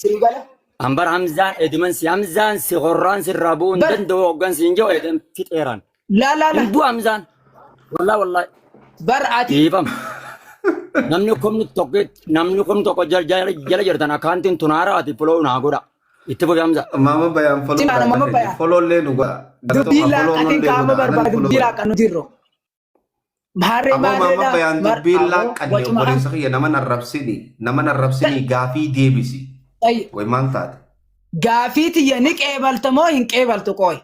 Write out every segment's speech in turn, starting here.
sii gala. An bar Hamzaan ediman si Hamzaan si qorraan si irraa bu'uu hin Bar- danda'u hoggan si hin jiru edem fixeeraan. Laa laa Hin laa du'a Hamzaan. Wallaa wallaa. bar ati Dhiifam. Namni kumni tokko namni kumni tokko jala jala jala jirtan akkaantiin tunaara ati fuloo naa godha. Itti fufi Hamza. Maama bayaan foloo Simaana, maama bayaan. foloo illee nu godha. dubbii Galatoomaa, foloo laaqatiin nullee qaama godha. Anani barbaadu foloo dubbii godha. laaqan nuti irra. Maarree Aboo maarree maamma dha. bayaan Mar- dubbiin aboo laaqqanne wacuma an obboleessa kiyya nama narrabsini nama narrabsini gaafii deebisi ta'e way maal taate gaafii tiyya ni qeebalta moo hin qeebaltu qooy.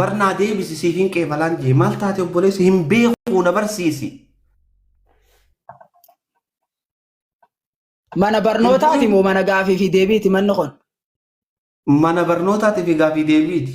barnaa deebisi siif hin qeebalaan jee maal taate obboleessi hin beeku na barsiisi Mana hin barnootaati beeku moo mana gaafii fi deebiiti manni kun? mana barnootaatiif gaafii deebiiti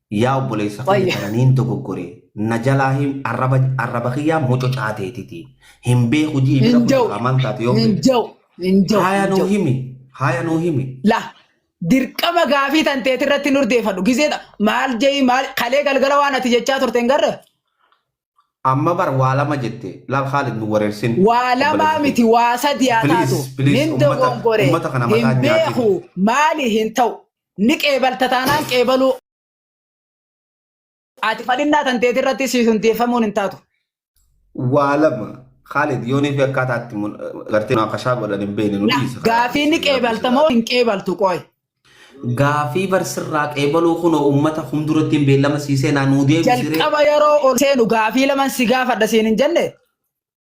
Yaa obboleessa kiyya Baay'ee. qananiin dogoggore na jalaa hin arraba arraba kiyyaa mococaa teetiti hin beeku ji'i bira Hin ja'u. kunuunkaa maal taate yoo Hin beekte ja'u. Hin ja'u. haaya hin nuu ja'u. himi haaya nuu himi La dirqama gaafii tan teeti irratti hin urdeeffadhu. Gizeedha. Maal je'i maal kalee galgala waan ati jechaa turte hin garre. amma bar waa lama jette laal Khaalid nu wareersin Waa lamaa obboleessa kiyya. miti waa sadii haa Please, taatu. please, Nin ummata- dogoggore. ummata kana mataa Hin hin nyaatin. beeku. Maali hin ta'u. ni qeebalta taanaan qeebaluu ati fadhinnaa tanteeti irratti siif hundeeffamuun hin taatu. waa lama Khalid yoonii fi akkaataa itti mun- gartee munaaqashaa godhan hin beekne nu Na dhiisi. gaafii ni qeebalta moo hin qeebaltu qoy. Gaafii barsirraa qeebaluu kunoo uummata humduratti hin beellama siisee naannoo deebisiree. Jalqaba yeroo ol seenu gaafii laman si gaafadha siin hin jenne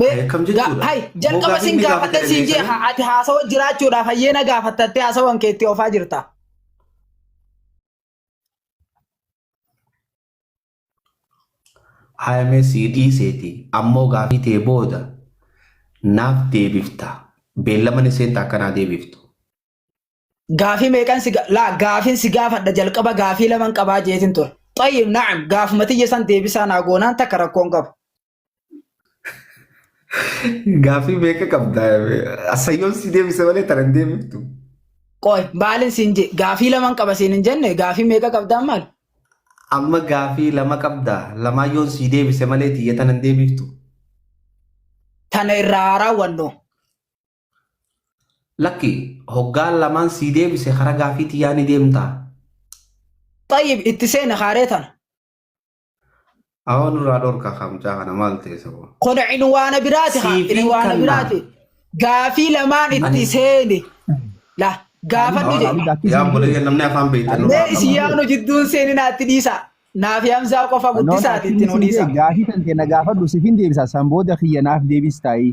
Mee Ay, akkam ga- jechuudha? hay jalqaba Mogaaf sin inni gaafadhe gaafatee sin jee beekanii? ha- ati haasawa jiraachuudhaaf hayyee na gaafattattee haasawan keetti ofaa jirta. Haayamee sii dhiiseeti ammoo gaafii tee booda naaf deebifta. Beellaman isheen takka naa deebiftu. Gaafii meeqan si ga- laa gaafiin si gaafadha jalqaba gaafii laman qabaa jeetin ture. Xayyib na'am gaafuma tiyya san deebisaa naa goonaan takka rakkoon qabu. Gaaffii meeqa qabda? Asayyoon si deebise malee tana hin deebiftu. Qoy maalin siin je gaafii laman qaba siin hin jenne gaafii meeqa qabdaa maal? Amma gaaffii lama qabda. Lamaayyoon si deebise malee tiyya tana hin deebiftu. Tana irraa haa raawwannu. Lakki hoggaan lamaan si deebise karaa gaaffii tiyyaa ni deemta. Xayyib itti seena kaaree tana. Awoo nurraa dhorka kaa mucaa kana maal ta'e saboo. Kun cinwaana biraati haa Siifin cinwaana kannaa. biraati. Gaafii lamaan itti Ani- seeni. La gaafadhu Awoo jedhe. namni- yaa boleeyya namni afaan beektan nurraa Mee isin qabaa. yaanu jidduun seeni naatti dhiisa. Naaf yaamsaa qofa Noon guddisaati akkin itti nu isin dhiisa. jee gaafii kan kenna gaafadhu sifin deebisa san booda kiyya naaf deebis taa'ii.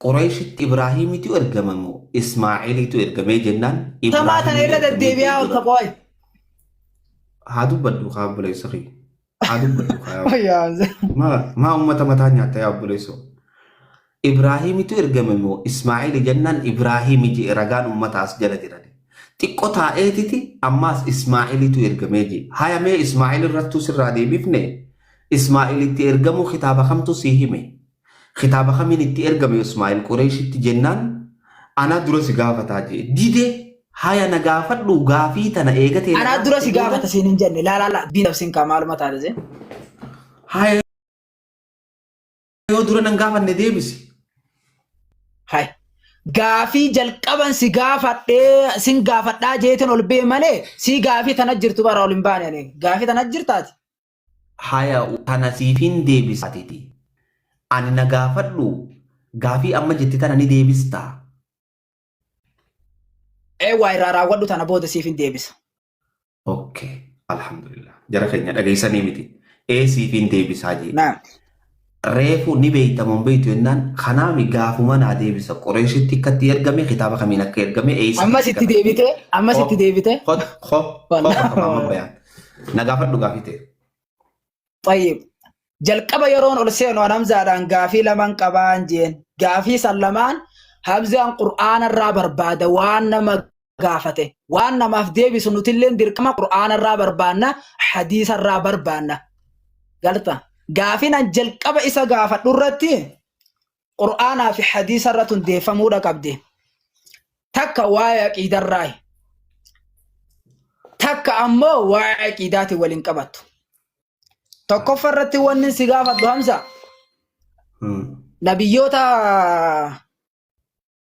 Qureeshitti Ibraahiimitu ergame moo Ismaa'eelitu ergamee jennaan Tamaa tana Ibraahiimitu irra ergamee deddeebi'aa jee oolta dura qooy. haa dubbadhu kaa obboleessa kee haa dubbadhu kaa yaa Wayyaa Hamza. maa maa ummata mataa nyaatta yaa obboleessoo Ibraahiimitu ergame moo Ismaa'eeli jennaan Ibraahiimi jee ragaan ummata as jala jirani xiqqo taa'eetiti ammaas Ismaa'eelitu ergamee jee hayamee Ismaa'eel irrattuu sirraa deebifne Ismaa'eelitti ergamuu kitaaba kamtu sii hime Kitaaba kamiin itti ergame Usmaa'il Qureeshitti jennaan anaa dura si gaafataa jee dide haya na gaafadhu gaafii tana eega tee Anaa narraa dura si fixee booda gaafata siin hin jenne laa laa laa diinaf siin kaa maaluma taate see. haya yoo dura nan gaafanne deebisi. Hay. Gaafii jalqaban si gaafadhee sin gaafadhaa jeetin ol bee malee sii gaafii tana jirtu bara ol hin baane ani. Gaafii tana jirtaati. Haya tana siifin deebisa atiti ani na gaafadhu gaafii amma jette tana ni deebistaa? Ee waa irraa raawwadhu tana booda siifin deebisa. Ok alhamdulillah jara keenya dhageessanii miti ee siifin deebisaa jee. Naam. Reefu ni beeyta moo hin beeytu jennaan kanaami gaafuma naa deebisa Qureeshitti akkatti ergame kitaaba kamiin akka ergame eeysa Ammas itti argame. deebite, ammas Ko- itti deebite. ko- ko- ko Wallah. bakka maamma bayaan. Na gaafadhu gaafii ta'e. Xayyib. Jalqaba yeroon ol seenu an Hamzaadhaan gaafii lamaan qabaan jeen. Gaafii san lamaan Hamzaan Qur'aana irraa barbaada waan nama gaafate waan namaaf deebisu nutilleen dirqama qur'aanarraa barbaanna hadiisarraa barbaanna galta gaafin an jalqaba isa gaafadhu irratti qur'aanaa fi hadiisa irratti hundeeffamuudha qabde takka waa'ee aqiidarraayi takka ammoo waa'ee aqiidaati waliin qabattu tokkoffa irratti wanni si gaafadhu hamsa nabiyyoota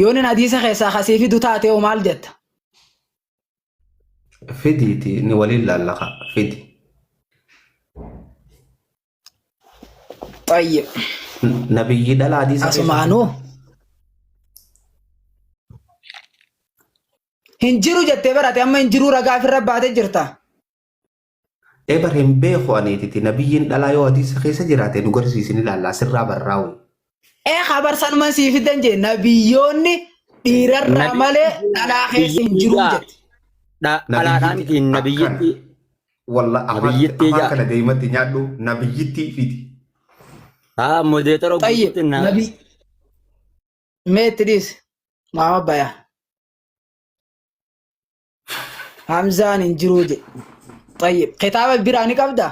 Yoo nin hadiisa keessaa kasii fidu taate hoo maal jetta? Fidiiti ni waliin laallaqa fidi. Xayyib. Nabiyyi dhala hadiisa keessaa Asumaanuu. Hin jiru jettee barate amma hin jiruu ragaa ofirra baatee jirta. Ee bar hin beeku ani titi nabiyyiin dhalaa yoo hadiisa keessa jiraate nu garsiisin ilaallaa sirraa barraa wayii. Ee habar sanuman sii fiddan jee nabiyyoonni dhiirarraa Nabi- malee dhalaa keessa hin jiru Nabiyyiidhaa. jette. Dha- Dhalaadhaa miti Nabiyyittii nabiyyitti. akkana. Walla afaan Nabiyyittii afaan jaa. kana deematti nyaadhu nabiyyittii fidi. Haa modeetara Tayyib guutuutti na. nabi meetti dhiis maama bayaa. Hamzaan hin jiruu jedhe. Tayyib. Kitaaba biraa ni qabdaa?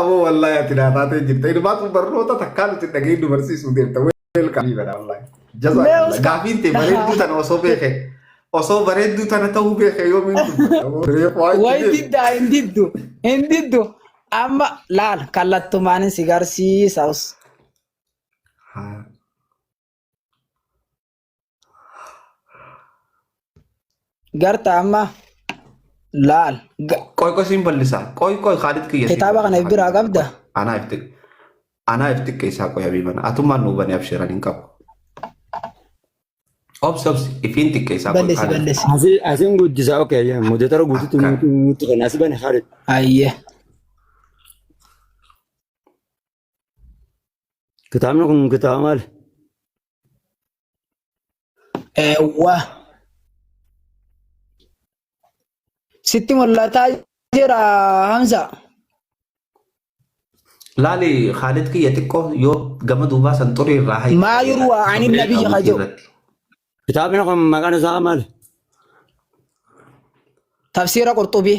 Aboo wallaahi ati naa taatee jirta. Ilmaatu barnoota takkaa nuti dhaga'ee nu barsiisuu deemta. Weelkaamii badha wallaahi. Jazaa Mee kalla. Oscar. Gaafiin tee bareedduu tana osoo beeke. Osoo bareedduu tana ta'uu beeke yoomiin dubbata. Aboo reef waa itti Wayi deebi. diddaa hin diddu. Hin diddu. Amma laal kallattumaan si garsiisa. Haa. Garta amma laal. Ga- Qoy qoy siin ballisaa. Qoy qoy Khaalid kiyya siin Kitaaba kana ballisaa. biraa qabda? Anaa ifti anaa ifti keessaa qoy habiibana. Atummaan nu hubanii abshiran hin qabu. Obsi obsi ifiin xiqqeessaa qoy Balleessi Khaalid. balleessi. Asi asin guddisa okay ya mudatara guututu Akka. nuti nuti kan asi bane Khalid. Ayyee. Kitaabni kun kitaaba maali? Eewwa. Sitti mul'ataa jira Hamza. Laali Khaalid kiyya xiqqoo yoo gama duubaa san xurii irraa hayi. Maa yurwa ani nabiyyi kajoo. Kitaabni kun maqaan isaa maali? Tafsiira Qurxubii.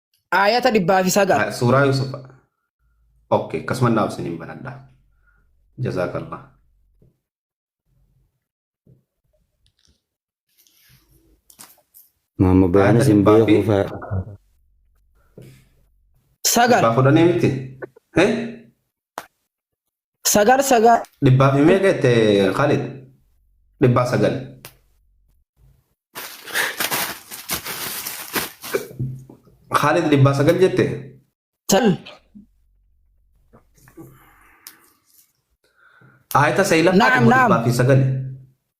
Aayata dhibbaa fi sagal. Ah, Suuraa Yuusuf. Ok, akkasuma naaf isiniin banadha. Jazaakallah. Maamma bayaan Aayata isin dhibbaa fi beekuu fa'a. Sagal. dhibbaa fudhanii miti. Eh? Sagal sagal. Dhibbaa fi meeqa jette Khalid? Dhibbaa sagal. Khalid dhibbaa sagal jette? Tal. Aayita seeylaffaa Naam, dhibba naam. dhibbaa fi sagal.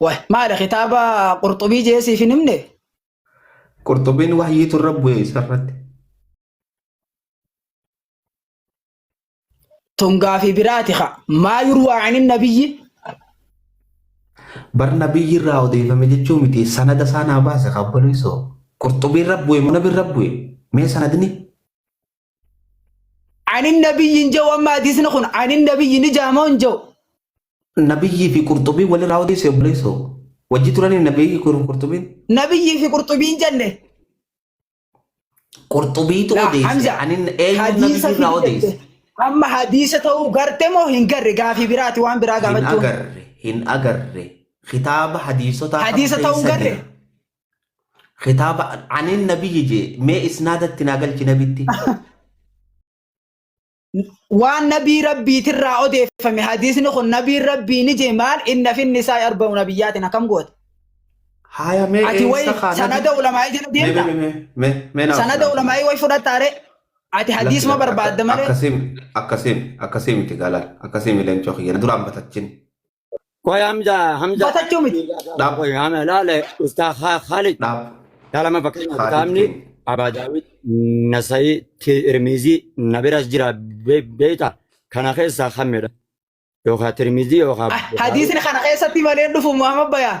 Wah, maali kitaaba qurxubii jee siif hin himne? Qurxubiin wahyiitu irra bu'e isarratti. Tun gaafii biraati ka. Maa yurwaa anin nabiyyi? Bar nabiyyi irraa odeeffame jechuu miti sanada isaa naa baase kabbaluu isoo. Qurxubii irra bu'e moo nabi irra bu'e? Mee sanadni? Ani nabiyyi hin jiru amma hadiisni kun ani nabiyyi ni jaamoo hin jiru. Nabiyyii fi qurxubii walirraa odeesse obboleessoo. Wajji turanii nabiyyii kun qurxubiin. Nabiyyii fi qurxubii hin jenne. Qurxubiitu Laa odeesse. Hamza Ani eenyu hadiisa nabiyyii irraa fidde odeesse. amma hadiisa ta'uu garte moo hin garre gaafii biraati waan biraa Hin gaafachuun. agarre hin agarre kitaaba hadiisotaa kam Hadiisa ta'uu keessa garre? jira. Kitaaba aniin nabiyyi jee mee isnaadatti naa galchi nabitti. Waan nabii rabbiitirraa odeeffame hadiisni kun nabiin rabbii ni jee maal inna finni isaa arba'u nabiyyaatiin akkam goote. Haaya mee Ati eessa wayi kaa sanada nabi? ulamaa'ii jala Mee mee deemta. mee mee mee mee naaf Sanada naaf. ulamaa'ii wayi fudhattaare. Ati hadiisuma barbaadda malee. Akkasiin akkasiin akkasii miti gaalaal akkasii mileen cookiyya duraan batachin Qoy Hamza Hamza Batachuu miti. Dhaab. Qoy Hamza laale ustaa Kha- Khalid Dhaab. kalama fakkeenyaaf Khalid kitaabni keenya. Abaa Daawud Nasayii Tirmizii na biras jira be- beekta kana keessaa kamidha yookaan Tirmizii yookaan Hadiisni kana keessatti malee dhufu Muhammad Bayaan.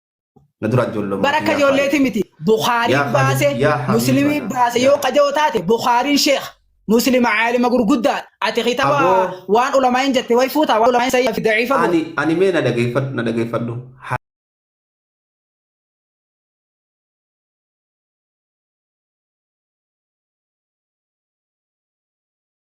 Na dura ijoollummaa bara akka kiyyaa faayya. ijoolleeti miti Yaa bukhaariin Khalid, baase yaa Habiiba muslimii yaa. baase yoo qaja'oo taate bukhaariin sheekh muslima caalima gurguddaa ati kitaba Aboo. waan ulamaa'in jette way fuutaa waan ulamaa'in sayyaa fi daciifa boo. Ani ani mee na dhageeffadhu na dhageeffadhu. Ha-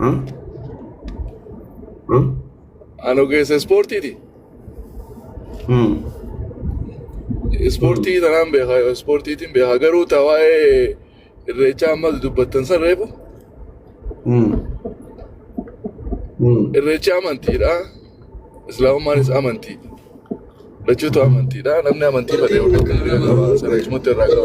Hmm? Hmm? An ogeessa ispoortiiti. Hmm. Ispoortii tanaan beeka, ispoortiitiin beeka. Garuu ta waa'ee irreechaa ammas dubbattan san reefu. Hmm. Hmm. Irreechi amantiidha. Islaamumaanis amantii. Lachuutu amantiidha. Namni amantii fedhe yookiin kan bira qaba. Sana achumatti irraa qaba.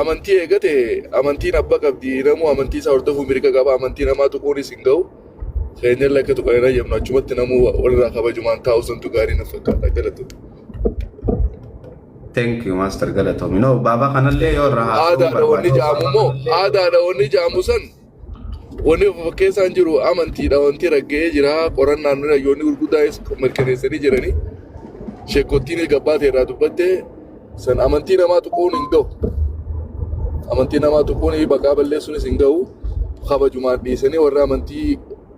Amantii eegate amantiin abba qabdi namuu amantii isaa hordofuu mirga qaba amantii namaa tuquunis hin ga'u keenyallee akka tuqan hin hayyamnu achumatti namuu walirraa kabajumaan taa'u santu gaarii na fakkaata galatu. Thank you Master Galatoomi. No baaba kanallee yoo irraa haasa'uu Aadaadha wanni barbaadne ja'amu immoo aadaadha wanni ja'amu san Wanni of fakkeessaan jiru amantiidha wanti ragga'ee jira qorannaan nuna yoonni gurguddaa'es mirkaneessanii jiranii sheekottiin gabbaate irraa dubbatte san amantii namaa tuquun hin ga'u amantii namaa tuquun maqaa balleessuunis hin ga'u kabajumaan dhiisanii warra amantii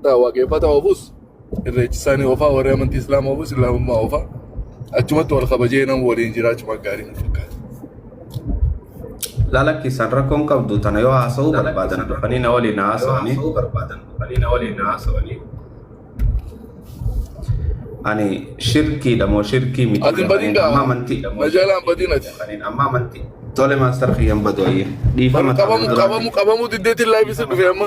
taa waaqeffataa oofus irreechi isaanii oofaa warri amantii islaama oofus islaamummaa oofaa achumatti wal kabajee nama waliin jiraachuma gaarii natti fakkaata. Laala keessaan rakkoon qabdu tana yoo haasa'uu barbaadan dhufanii na waliin haasa'anii ani shirkiidha moo shirkii miti Ati hin badin jedhaniin amma gaa amantii na jalaa hin badin ati. tole maastar kiyyan badu ayye dhiifama Qabamu taa'uu qabamu duraati. qabamu diddeetiin laayifisa dhufe amma.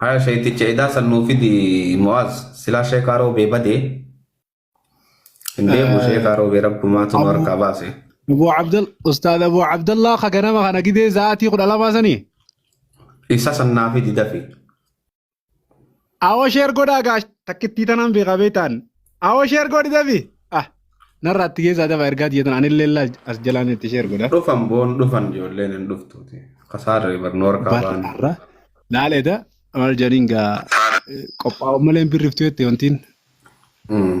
Haya sheekticha edaa san nuu fidi Mu'aaz silaa sheekaa roobee badee hin deemu sheekaa roobee rabbumaatu nu harkaa baase. Abuu Abdal Ustaad Abuu Abdallaa ka ganama kana gidee sa'aatii kudha lamaa sanii Isa san naa fidi dafi. Awoo sheer godhaa gaash takkittii tanaan beekaa beektaan. Awoo sheer godhi dabi. Ah narraa itti keessaa daba ergaa jeetan anillee laa as jalaan itti sheer godha. Dhufan boon dhufan ijoolleen hin dhuftuuti. Kasaarree barnoo harkaa Barra baane. har'a laaleedha maal jedhaniin gaa qophaa'u malee hin birriftu jette wantiin. Mm.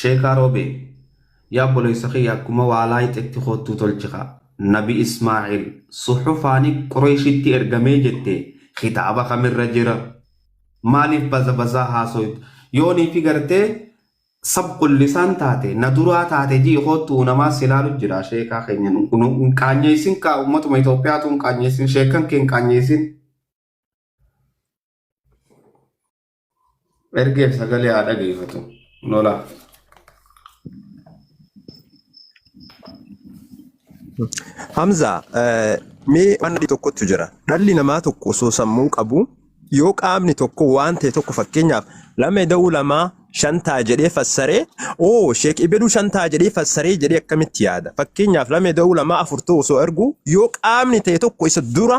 Sheekaa Roobee, Yaa obboleessa kiyya akkuma waa laayxetti koottuu tolchi kaa. Nabi Ismaa'iil, suhufaani Qureeshitti ergamee jette kitaaba kamirra jira? Maaliif baza bazaa haasoyta? Yoo niiti gartee sabqul lisaan taate, na duraa taate ji'i koottu unamaa si laalu jira sheekaa keenya nu hin qaanyeessin kaa ummatuma Itoophiyaatuu hin qaanyeessin sheekkan kee hin qaanyeessin. Ergeef sagalee haa dhageeffatu. Lola. Hamza, eh, mee waan adii tokkotu jira. Dhalli namaa tokko osoo sammuu qabu yoo qaamni tokko waan ta'e tokko fakkeenyaaf lama ida'uu lamaa shan ta'a jedhee fassaree oo sheek ibeduu shan ta'a jedhee fassaree jedhee akkamitti yaada? Fakkeenyaaf lama ida'uu lamaa afur ta'u osoo argu yoo qaamni ta'e tokko isa dura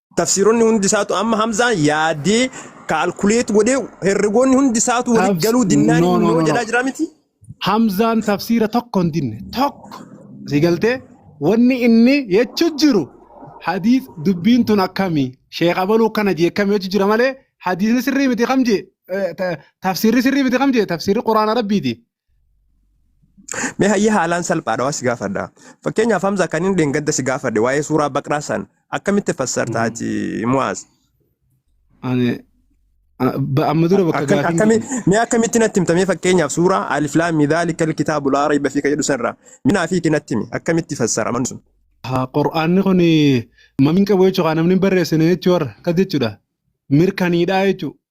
tafsiironni hundi isaatu amma hamzaan yaadee kaalkuleet godhee herregoonni hundi isaatu walitti Tafs- galuu dinnaan no, no, innoo no, no. jedhaa jira miti. Hamzaan tafsiira tokko hin dinne tokko si galtee wanni inni jechuu jiru hadiis dubbiin tun akkamii sheekh abaluu akkana jee akkamii jechuu jira malee hadiisni sirrii miti kam jee eh, ta- tafsiirri sirrii miti kam jee tafsiirri quraana rabbiiti Mee hayyee haalaan salphaadha waa si gaafadha. Fakkeenyaaf Hamza kan inni dheengadda si gaafadhe waa'ee suuraa baqraa san akkamitti fassarta ati Mu'aaz? Ani a- ba- amma dura bakka Akkam- gaafiin akkami- Mee akkamitti natti himta mee fakkeenyaaf suuraa alif laam mim dhaalika alkitaabu laa rayba fiihi jedhu sanirraa minaa fi natti himi akkamitti fassara manni sun? haa qur'aanni kun mamiin qabu jechuudha namni hin barreessine jechuudha akkas jechuudha mirkaniidhaa jechuudha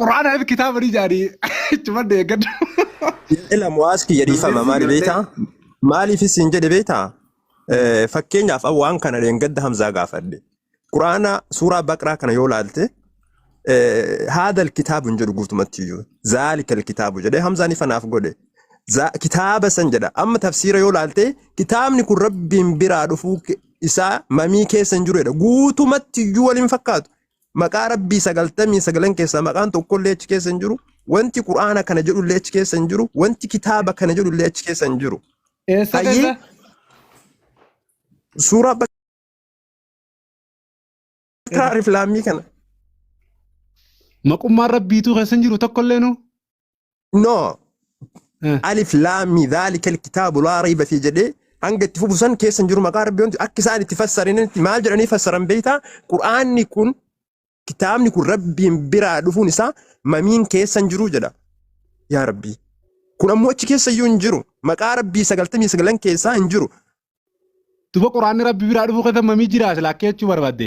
Qur'aana fi kitaaba ni jaari. Ittuma deeggadhu. Ila mu'aas kiyya dhiifama maali beektaa? Maaliif isin jedhe beektaa? Eh, Fakkeenyaaf an waan kana dheengadda Hamzaa gaafadhe. Quraana suuraa Baqraa kana yoo laalte eh, haadal kitaabu hin jedhu guutumatti iyyuu. Zaalikal kitaabu jedhee Hamzaan ifa naaf godhe. Za- Kitaaba san jedha. Amma tafsiira yoo laalte kitaabni kun rabbiin biraa dhufuu ke- isaa mamii keessa hin jiru jedha. Guutumatti iyyuu waliin fakkaatu. Maqaa Rabbii sagaltamii sagalan keessaa maqaan tokkollee achi keessa hin jiru. Wanti Qur'aana kana jedhullee achi keessa hin jiru. Wanti kitaaba kana jedhullee achi keessa hin jiru. Eessa Hayyee keessa? suuraa bakka Eessa? alif laamii kana Maqummaan rabbiituu keessa hin jiru tokkollee nu. no Eh. alif laami dhaalika alkitaabu laa rayba fi jedhee hanga itti fufu san keessa hin jiru maqaa rabbii wanti akka isaan itti fassaranitti maal jedhanii fassaran beektaa qur'aanni kun kitaabni kun rabbiin biraa dhufuun isaa mamiin keessa hin jiru jedha yaa rabbii kun ammoo achi keessa iyyuu hin jiru maqaa rabbii sagaltamii sagalan keessaa hin jiru Duba quraanni rabbi biraa dhufuu keessa mamii jira silaa akka jechuu barbaadde.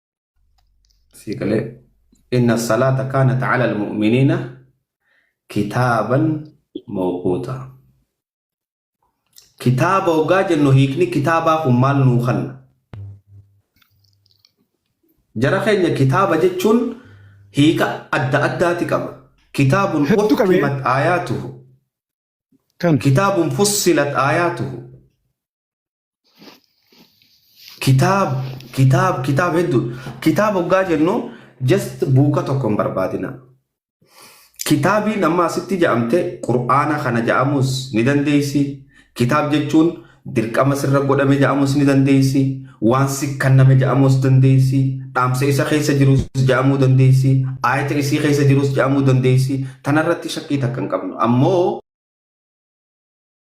sii galee inna salaata kaanat ala almu'miniina kitaaban mawquuta kitaaba hoggaa jennu hiikni kitaabaa kun maal nuu kanna jara keenya kitaaba jechuun hiika adda addaati qaba kitaabun Hedduu qabee. uhkimat aayaatuhu kan kitaabun fussilat aayaatuhu Kitaab, kitaab, kitaab hedduu. Kitaab hoggaa jennu just buuka tokko hin barbaadina. Kitaabiin amma asitti ja'amte Qur'aana kana ja'amuus ni dandeessi. Kitaab jechuun dirqama sirra godhame ja'amuus ni dandeessi. Waan si kanname ja'amuus dandeessi. Dhaamsa isa keessa jirus ja'amuu dandeessi. Aayata isii keessa jirus ja'amuu dandeessi. Tanarratti shakkii takka hin qabnu. Ammoo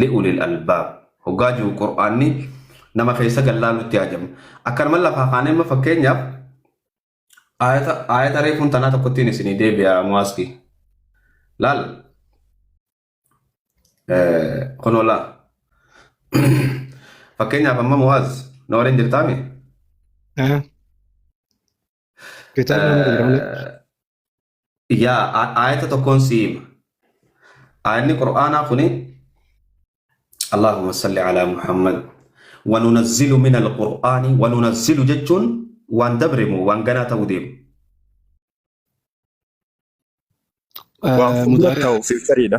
li'ulil albaab hoggaa jiru qur'aanni nama keessa gallaalutti haajama akkanuma lafaa kaanee amma fakkeenyaaf aayata aayata reefuun tanaa tokkottiin isinii deebi'a muwaaski laal kunoo laa fakkeenyaaf amma muwaaz na waliin jirtaami Kitaabni nama jira malee. yaa a- aayata tokkoon si hima aayanni qur'aanaa kuni allahumma salli ala muhammad wanunazzilu min alqur'aani wanunazzilu jechuun waan dabremu waan ganaa ta'uu deemu Waan fuuldura mudaari'a ta'u fiichariidha.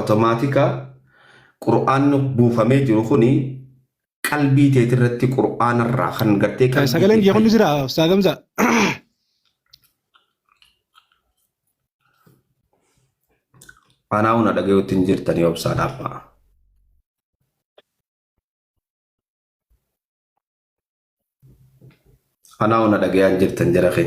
Otomaatika qur'aanni buufamee jiru kuni qalbii teetirratti qur'aanarraa kan gartee qalbii Sagaleen kee kiyya kun ni jira Ustaaz Hamza. anaa huna dhagayuutti hin jirtanii obsaa dhaabaa. Anaa ona dhagayaan jirtan jara kee.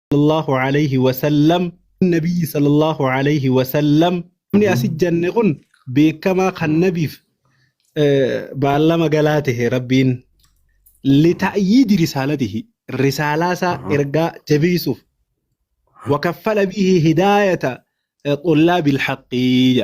sallallahu alayhi wa sallam nabiyyi sallallahu alayhi wa sallam namni asi janne kun beekamaa kan nabiif baallama galaa tahe rabbiin lita'yiidi risaalatihi risaalaa isaa ergaa jabeessuuf wakaffala bihi hidaayata xullaabil haqqii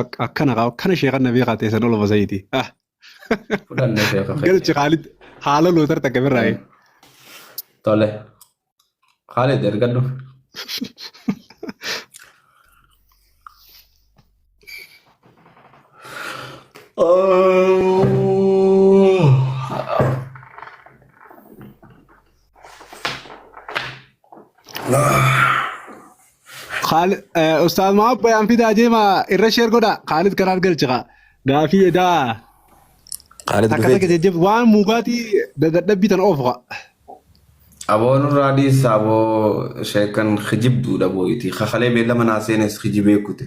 Ak- akkana kaa akkana sheekan na beekaa ta'e san oloma sayiiti ah Fudhanne sheeka keenya. galchi kaalid haala lootar takka birraa ee Tole. Khalid ergadhu. Oh. Khaalid eh, Ustaaz Mahaab bayaan fidaa jeema irra sheer godha Khaalid kanaan galchi kaa gaafii edaa Khaalid takka takka dhufee jajjab waan muugaatii dadhabbii tan oofu kaa. Aboon irraa dhiisa aboo sheekan kijibduudha boo'iti. Kakalee beellama naa seenes kijibee kute.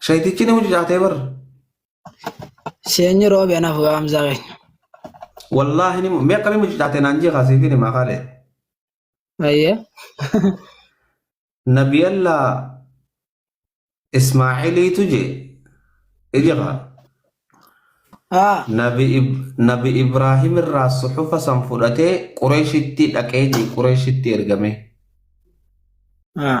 Shayitichi ni mucucaatee bar. Seenyi roobi anaaf gaamsaa keenya. Wallaahi ni mu- mee akkamii mucucaatee naan jee kaasee fi ni maakaalee. Ayyee. Nabiyalla Ismaa'iliitu jee. Ija kaa. Haa. Nabi, Ib- Nabi Ibraahim irraa suxufa san fudhatee Qureeshitti dhaqee jee Qureeshitti ergamee. Haa.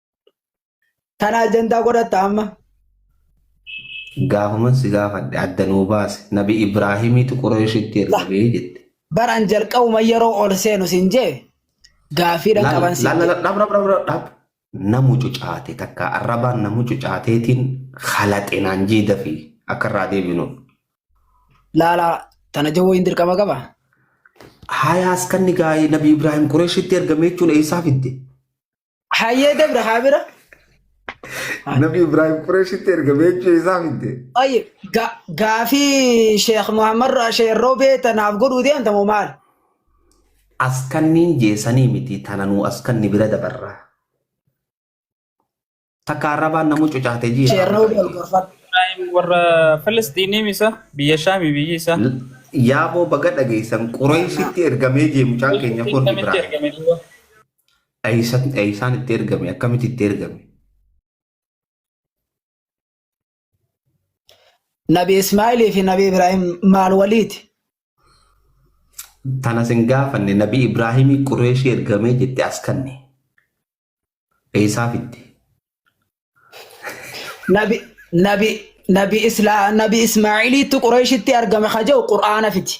Kana ajandaa godhatta amma. Gaafaman si gaafadhe adda nuu baase nabi Ibraahimiitu Qureeshitti ergamee jette. Baran jalqabuma yeroo ol seenu sin jee gaafiidhan qaban sin jee. Laalaladhabrabradhabrab na mucucaate takka arrabaan na mucucaateetiin halaxe naan jee dafii akka irraa deebinuuf. Laala tana jawwoo hin dirqama qaba. Hayaas kan ni gaa'ee nabi Ibraahim Qureeshitti ergamee jechuun eessaa fidde? Hayyee dabra haa bira. Nabi Ibrahim Qureeshitti erga beekuu isaa fidde. Ayye ga- gaafii Sheekh Muhammad Ra- Sheekh Roobee tanaaf godhuu deemta moo maal? Askanniin jeesanii miti tananuu askanni bira dabarraa. Takka arrabaan namuu cucaate ji'a. Sheekh Roobee ol gorfadhu. Ibrahim warra Filisxiinii misa biyya Shaami biyyi isaa. Yaaboo baga dhageessan Qureeshitti ergamee jee mucaan keenya kun Akkamitti Ibrahim. ergame duuba? Eeysaan itti ergame? Akkamitti itti ergame? Nabi Ismaa'ilii fi Nabi Ibraahim maal waliiti? Tana sin gaafanne Nabi Ibraahimii Qureeshii ergamee jette as kanne. Eeysaa fitte? Nabi Nabi Nabi Isla Nabi Ismaa'iliitti Qureeshitti argame ka jedhu Qur'aana fiti.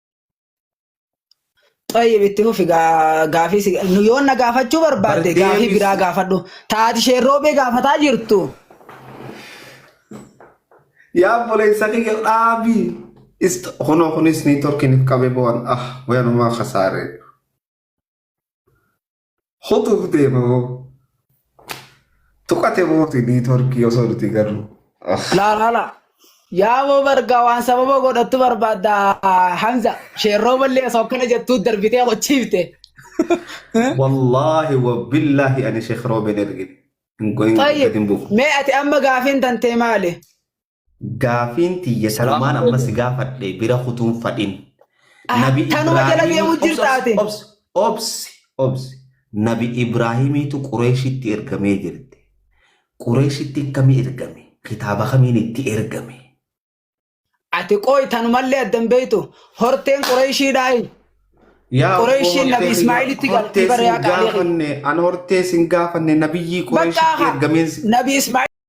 Xayyib itti fufi gaa- gaafii si- nu yoo na gaafachuu barbaadde Bar gaafii deebis- biraa gaafadhu. Taati shee roobee gaafataa jirtu. Yaa obboleessa kiyya dhaabii. Ist kunoo kunis niitoorkiin if qabe boon ah wayanumaa kasaaree. Hutubdee moo tuqate mooti niitworkii osoo nuti garuu. Laa laa laa. Yaaboo bargaa waan sababa godhattu barbaadda Hamza. Sheerroo ballee osoo akkana jettuu darbitee qochiifte. Wallaahi wa billaahi ani sheekh roobeen ergine. Hin goyin Tayyib. gadi hin buufu. mee ati amma gaafiin tantee maali? Gaafiin tiyya sanumaan amma si gaafadhe bira kutuun fadhin. Ah, Nabi tanuma jala Ibraahimii- deemu obsi, jirta ati. obsi, obsi, obsi. Nabi Ibraahimiitu Qureeshitti ergamee jirti. Qureeshitti akkami ergame? Kitaaba kamiin itti ergame? Ati qoy tanumallee addan beektu horteen Qureeshiidhaayi. Yaa Qureeshiin obbo Nabi Hortee Ismaa'ilitti kiyya, galtee hortee bari'aa sin qaalii. gaafanne, an hortee sin gaafanne nabiyyii Qureeshitti Bakka ergameen si- Nabi Ismaa'il